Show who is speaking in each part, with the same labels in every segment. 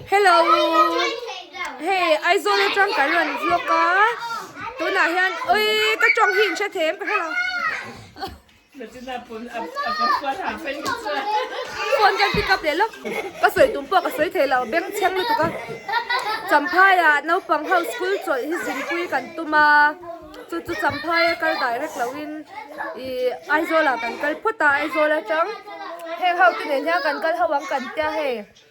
Speaker 1: Hello Hey Aizawl atang kan rawn vlog a tunah hian ui ka tawng hi in hre thei em ka hre lo Phone kan pick up leh lawk ka sawi tum pawh ka sawi thei lo beng chheng lutuk a Champhaia naupang ho school chawlh hi zingpui kan tum a chu chu Champhaia kal direct lo in i Aizawlah kan kal phawt a Aizawl atang heng ho te nen hian kan kal ho ang kan tia hei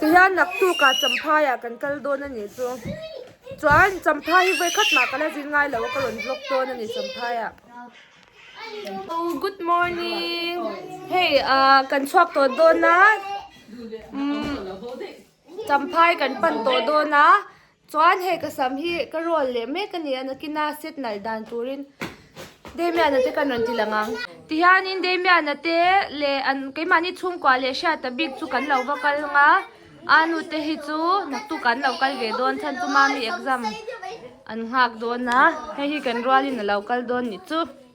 Speaker 1: Ti hian laktuk ah Champhai ah kan kal dawn a nih chu. Chuan Champhai hi vawi khat mah ka la zin ngai lo a ka rawn vlog dawn a ni Champhai ah. Good morning hei ah kan chhuak tawh dawn a umm Champhai kan pan tawh dawn a Chuan he ka sam hi ka rawl leh mek a nia, Nakina set nalh dan turin Damiana te kan rawn ti lang ang. Tihianin Damiana te leh an keimahni chhungkua leh hriata bik chu kan lo va kal nga, Anu te hi chu naktuk an lo kal ve dawn chhan chu mami exam an nghak dawn a, hei hi kan rualin a lo kal dawn ni chu.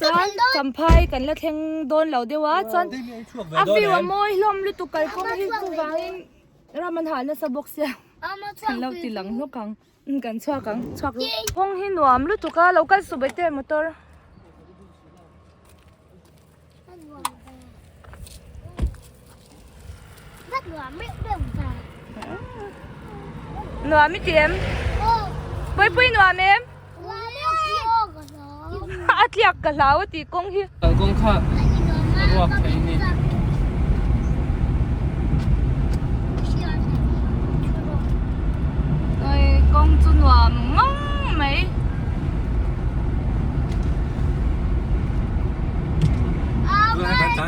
Speaker 1: Chuan Champhai kan la thleng dawn lo deuh a, chuan a view a mawi hlawm lutuk kalkawng hi chu vangin ram an hah nasa bawk sia, kan lo ti lang hlawk ang, kan chhuak ang chhuak ru. Kawng hi nuam lutuk a, lo kal suh ve teh motor. Nuam i ti em? Pui pui nuam em? A tliak ka hlau a ti kawng hi. Kalkawng kha
Speaker 2: a ruak thei ni.
Speaker 1: Oi, kawng chu nuam ngam mai. Aa, mai.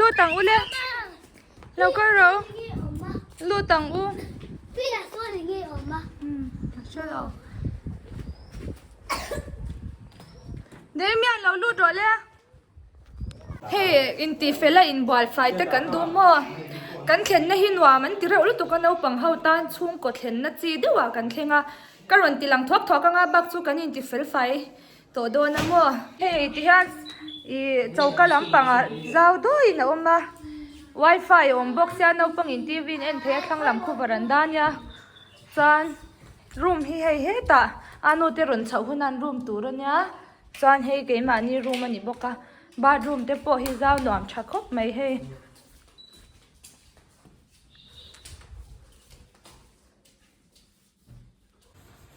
Speaker 1: Lut ang u le.
Speaker 3: Lo ka ro. Lut ang u. Pila so ni ngi oma. Hmm. Chalo. Dei mi ang lo lut ro le.
Speaker 1: Hey, in ti fela in bual fai te kan du mo. Kan thlen na hi nuam an ti reuh lu tu ka no pang ho tan chung ko thlen na chi deuh a kan thlenga. Ka ron ti lang thok thok anga bak chu kan in ti fel fai. Tawh dawn a maw? Hei ti hian ih choka lampang ah zau dawi in a awm a wifi a awm bawk sia naupang in TV in en theih a thlang lam khup a rawn dan nia chuan room hi hei hetah anu te rawn chhoh hun an room tur a nia chuan hei keimahni room a ni bawk a bathroom te pawh hi zau nuam tha khawp mai hei.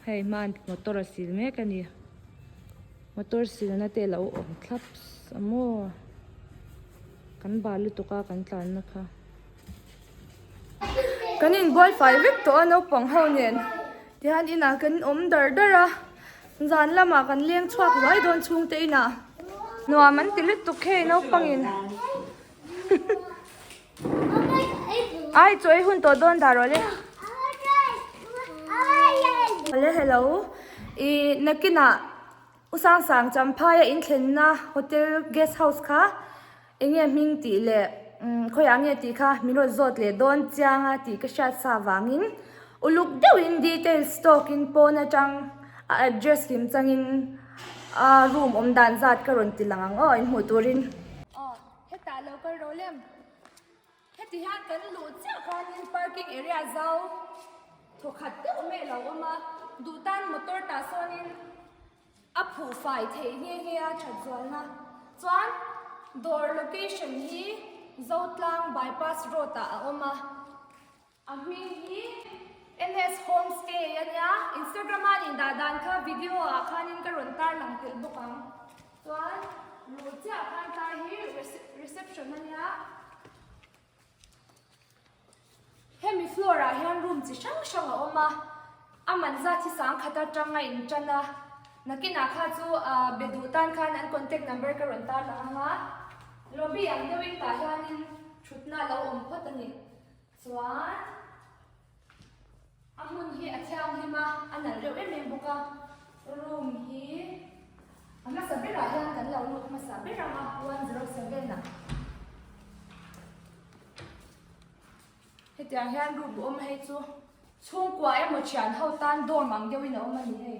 Speaker 1: Hei hman motor a sil mek a ni. Motor silna te alo awm thlap sa maw. Kan bal lutuk a kan tlanna kha. Kan in buai fai vek tawh a naupang ho nen tihian inah kan in awm dar dar a. Zan lamah kan leng chhuak ruai dawn chhungte inah nuam an ti lutuk hei naupangin. Ai chawi hun tawh dawn dar awle. Awle hello. I nakina u sang sang champhai a in thlenna hotel guest house kha enge hming tih leh khawiah nge tih kha min rawn zawt leh dawn chianga tih ka hriat sa vangin Uluk deuhin details tawkin pawn atang a address kim changin a room awm dan zat ka rawn ti lang ang aw in hmuh turin. Aw hetah lo kal ro lem. Heti hian kan luh chiah khanin parking area zau thaw khat deuh mai alo awm a, duh tan motor tah sawnin a phuh fai thei nghe nghe a that zualna chuan dawr location hi Zotlang bypass road ah a awm a. A hming hi MS Homestay a nia. Instagram a nih dah dan kha video ah khanin ka rawn tar lang tel bawk ang. Chuan luh chiah khan tlai hi reception a nia. Hemi floor ah hian room chi hrang hrang a awm a. A man zat hi sangkhat atanga in tan a. Nakin ah kha chu ahh be duh tan khan an contact number ka rawn tar lang anga. Lobby ang deuh in tah hianin thutna lo awm phawt a ni. Chuan a hmun hi a thianghlim a, a nal reuh em em bawk a. Room hi a hmasa berah hian kan lo lut hmasa ber ang a, one zero seven ah. Hetiang hian room awm a hei chu. Chhungkua emaw thian ho tan dorm ang deuhin a awm a ni hei.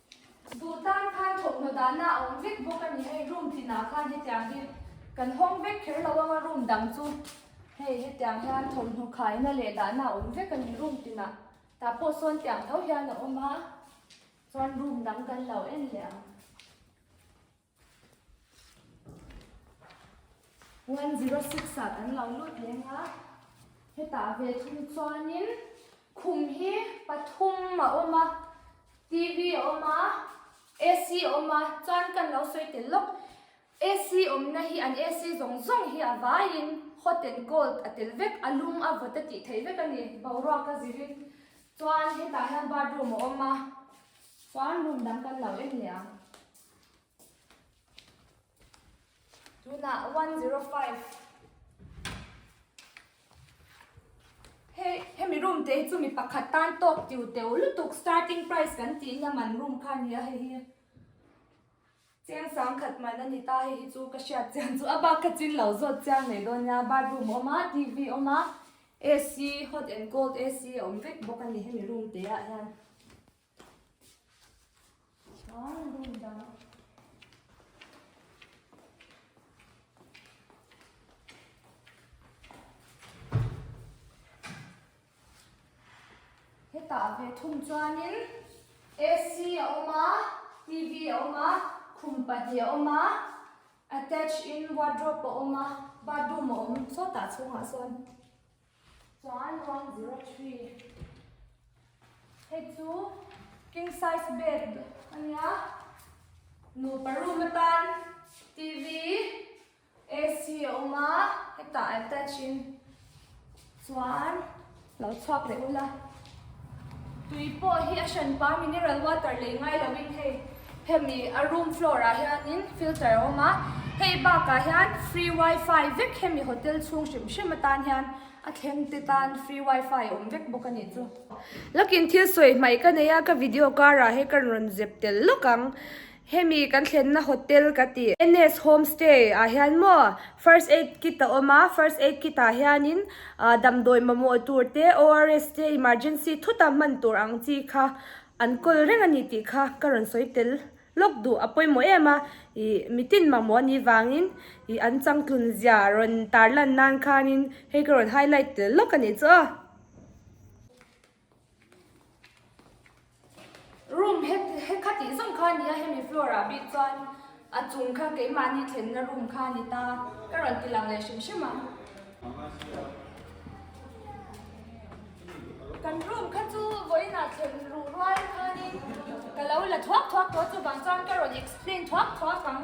Speaker 1: Duh tan khan thawhhnaw dahna a awm vek bawk a ni hei, room tlinah khan hetiang hi kan hawng vek kher lo ang a, room dang chu hei hetiang hian thawhhnu khaina leh dahna a awm vek a ni room tlinah tah pawh sawn tiang tho hian a awm a, chuan room dang kan lo en leh ang. One zero six ah kan lo lut lem a, hetah ve thung chuanin khum hi pathum a awm a, TV a awm a, AC a awm a, chuan kan lo sawi tel lawk AC awmna hi an AC zawng zawng hi a vaiin hot and cold a tel vek a lung a vawt a tih theih vek a ni boruak a zir in. Chuan hetah hian bathroom a awm a, chuan room dang kan lo en leh ang. Tunah 105. He, he mi room te chu mi pakhat tan tawk tiu teu lutuk starting price kan ti na man room kha ni a hei hi. Chiang sang khat man a ni ta hei hi chu ka hriat chian chu a bak ka chin lo zawt chiang leh dawn nia bathroom a awm a TV a awm a AC hot and cold AC a awm vek bawk a ni hemi room te ah hian. hetah ve thung chuanin AC a awm a TV a awm a khum pahnih a awm a attach in wardrobe a awm a bathroom a awm sawtah chhungah sawn. Chuan one zero three hei chu king size bed a nia nupa room atan tv ac a awm a hetah attach in chuan lo chhuak leh ula. Tui pawh hi a hran pa mineral water lei ngai lo in hei hemi a room floor ah hian in filter a awm a. Hei bak ah hian free wifi vek hemi hotel chhung hrim hrim atan hian a thleng te tan free wifi awm vek bawk a ni chu. Lakin thil sawi hmai ka nei a ka video kar ah hi ka rawn zep tel lawk ang. Hemi kan thlenna hotel ka ti. NS Home Stay ah hian maw First Aid Kit a awm a, First Aid Kit ah hianin damdawi mamawh tur te, ORS te, Emergency thuta hman tur ang chi kha an kawl reng a ni tih kha ka rawn sawi tel lawk duh a pawimawh em a, ih mitin mamawh a nih vangin ih an changtlun zia rawn tarlan nan khanin hei ka rawn highlight tel lawk a ni chu. Room he kha tih zawng kha a nia, hemi floor ah bik chuan a chung kha keimahni thlenna room kha a ni ta, ka rawn ti lang leh hrim hrim a. Kan room kha chu vawiin ah thlen ruh rual khanin ka lo la thuak thuak tawh a, chuvang chuan ka rawn explain thuak thuak ang.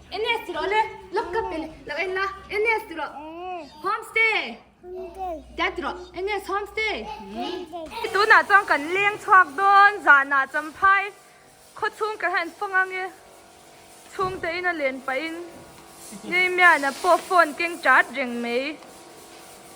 Speaker 1: Ns tiro le lop kap e lo en la ns tiro homestay ta tiro ns homestay tu na chang kan leng chhuak don za na cham phai kho chung ka hen fong ang e chung te in a len pa in nei mya na po phone keng chat reng mai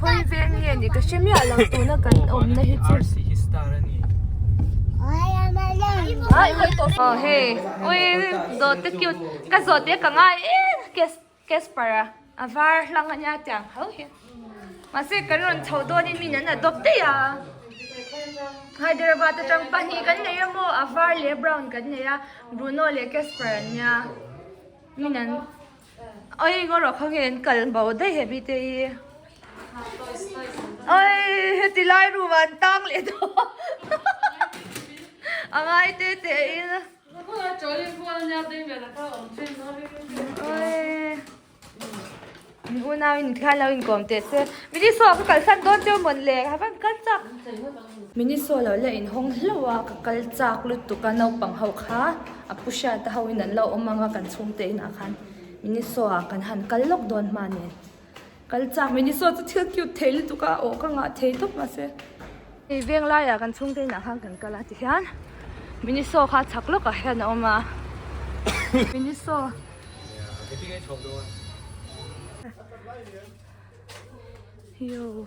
Speaker 1: Khawi veng nge ni ka hre miah lo tuna kan awmna hi chu. Oh hey, ui zawt te cute. Ka zawt te ka ngai em kes Casper a. A var hlang a nia tiang ho hi. Mahse kan rawn chho dawn in min an adopt daih a. Hyderabad atang pahnih kan nei emaw a var leh a brown kan nei a. Bruno leh Casper an nia. Min an. Oi ngaw rawh kha nge an kal bo daih he mite hi Oi heti lai room ah an tang leh tawh a ngai te teh in Oi min unau in thla an lo inkawm teh se Midi saw ka kalsan dawn teuh mawn le have'n kal chak. Miniso lo la in hawng hlauh a ka kal chak lutuk a naupang ho kha a pu hriat a ho in an lo awm ang a kan chhung te in ah khan Miniso ah kan han kal lawk dawn hma nen kal chak Miniso chu thil cute thei lutuk a awh ka ngah thei tawp mah se hei veng lai ah kan chhung te in ah khan kan kal a ti hian Miniso kha chak lawk ah hian a awm a Miniso Yo.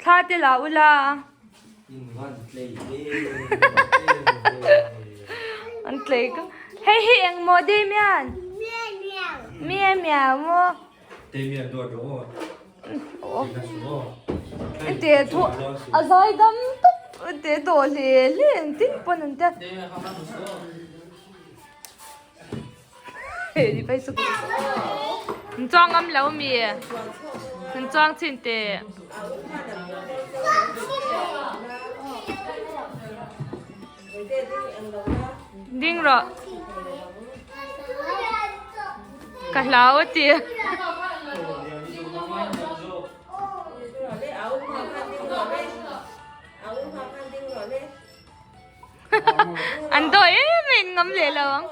Speaker 1: Thla te la u la. An tlei ka. Hei hi eng maw Damian? Mia miau maw? Damian duar
Speaker 4: duh maw?
Speaker 1: An ti thu a zai dam tak an ti daw hle hle ang tin pawn an tia. Pai chu kum Min chuang ngam lo mi Min chuang chin te Ding ro Ka hlau ti an dawi em em ngam leh lo ang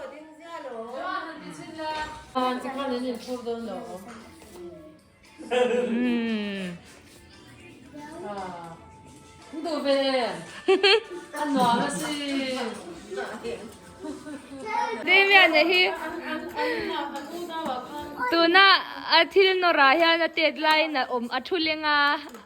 Speaker 1: tuna thil nawrah hian a tet laiin a awm a thu lenga.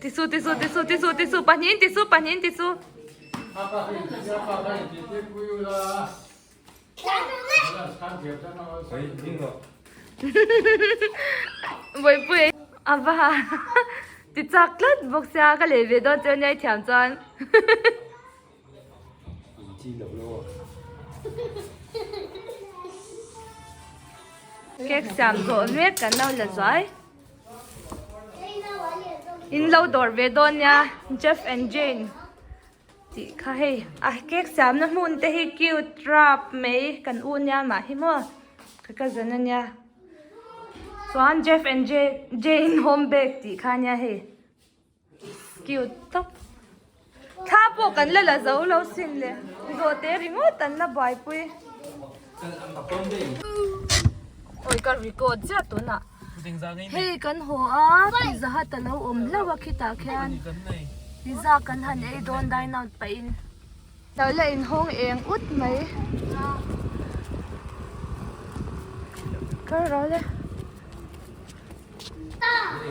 Speaker 1: Tissue tissue tissue tissue tissue pahnih in tissue pahnih in tissue vawipui a va ha ti chak tlat bawk sia ka lei ve dawn chu a nia i thiam chuan Cake siam zawh mek kan lo la zuai in lo dawr ve dawn nia Jeff and Jane tih kha hei a cake siam na hmun te hi cute rap mai kan u nia mah hi maw ka ka za na nia chuan Jeff and Jane home bag tih kha nia hei. Cute tak. Thla pawh kan la la zo lo sin le. Zawhte ringawt an la buaipui. Ui ka record ziah tunah. Hei kan haw a tih zahat a lo awm hlauh a khitah khian. Tizak kan han ei dawn dine out pahin. Lo la inhawng eng ut mai. Kal ro le.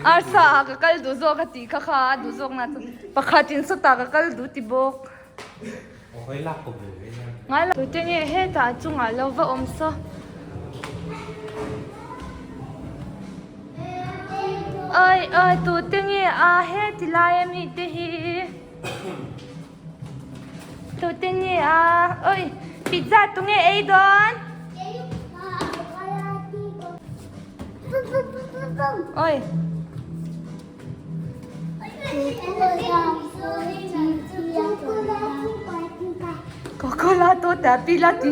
Speaker 1: Arsa ah ka kal duh zawk a tih kha kha a duh zawk na chu pakhat in saw ta ka kal duh ti bawk.
Speaker 4: Awhawi lak pawh ve ve hian. Ngai lo. Tute nge
Speaker 1: heta a chungah lo va awm saw. Awih awih tute nge a heti lai a mi te hi. Tute nge a, oi, pizza tu nge ei dawn? Oi. Coca-Cola to ta pila ti.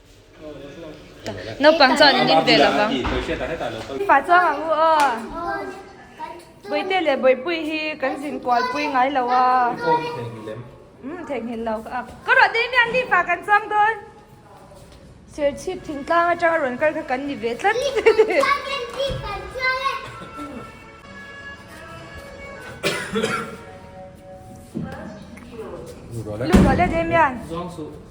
Speaker 1: Naupang chuan in in ve lo vang. Fapa chuan ka u a, Bawihte leh Bawihpuii hi kan zin kualpui ngai lo a.
Speaker 4: Umm theihnghilh
Speaker 1: lo ka ak. Ka rawh daihmi an tihfah kan chuang dawn. Serchhip thingtlang atanga rawn kal kha kan ni ve tlat
Speaker 4: hlek.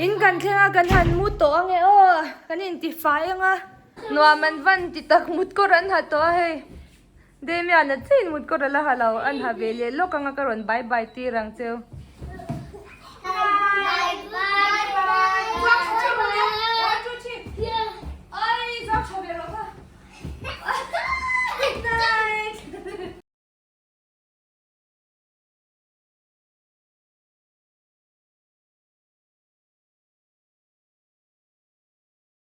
Speaker 1: In kan thleng a kan han mut tawh ange aw kan intifai anga nuam an van ti tak mut kawr an ha tawh a hei. Damian a chain mut kawt a la ha lo an ha ve leh lawk anga ka rawn bye bye tir ang che.